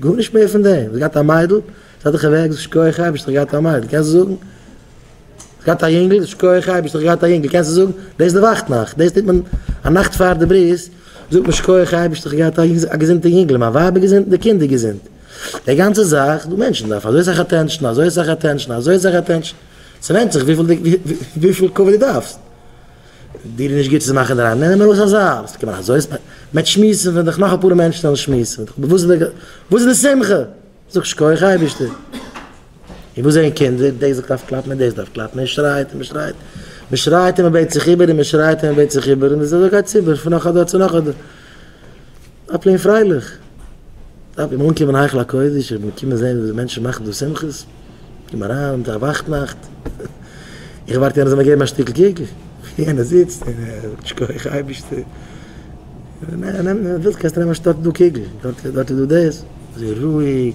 גארנישט מער פון דעם, זי האט געהאט א מיידל, זי האט דיך ערוועקט, שכוח אייבישטער איך געהאט א מיידל, קענסט זאגן? זי געהאט א יונגל, שכוח אייבישטער איך געהאט א יונגל, קענסט זאגן? דאס די וואכט נאכט, דאס טוט מען א נאכט פאר די ברית, זאגט מען שכוח אייבישטער איך געהאט א געזונטע יונגל, מיין ווייב איז געזונט און די קינד איז געזונט, די גאנצע זאך, דו מענטשן דארף אזוי סאך אטענשאן, אזוי סאך אטענשאן, אזוי סאך אטענשאן, ס'ווענדט זיך וויפיל כבוד דו דארפסט. דיר איז נישט גוט צו מאכן אינדערהיים? נעם ארויס א זייל, וואס קען מען אזוי ספענדן? מען וועט שמועסן ווען דיך נאך אפאר מענטשן וועלן שמועסן, וואס איז די וואס איז די שמחה? זאג שכוח אייבערשטער. און וואס זעען קינדער? דער זאגט דארף קלאפן און דאס דארף קלאפן, מען שרייט און מען שרייט, מען שרייט און מען בעט זיך איבער און מען שרייט און מען בעט זיך איבער, און די זעלבע גייט צו איבער פון נאך א דור צו נאך א דור. זיי פלעגן פרייליך דארף מען אנקומען היכל הקודש איך בין געקומען זעהן ווי די מענטשן מאכן דא שמחות קום אריין זיי וואכט נאכט איך ווארט יענער זאל מיר געבן א שטיקל קוק ווי יענער זיצט שכוח אייבישטער נעם נעם וואס ווילסט קענסט נעמען א שטאק דא קוק דארט איז דא דאס זיי רואיג.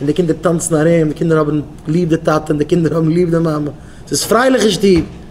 און די קינדער טאנצן ארום, די קינדער האבן ליב די טאטע און די קינדער האבן ליב די מאמע, ס'איז פרייליך אין שטוב,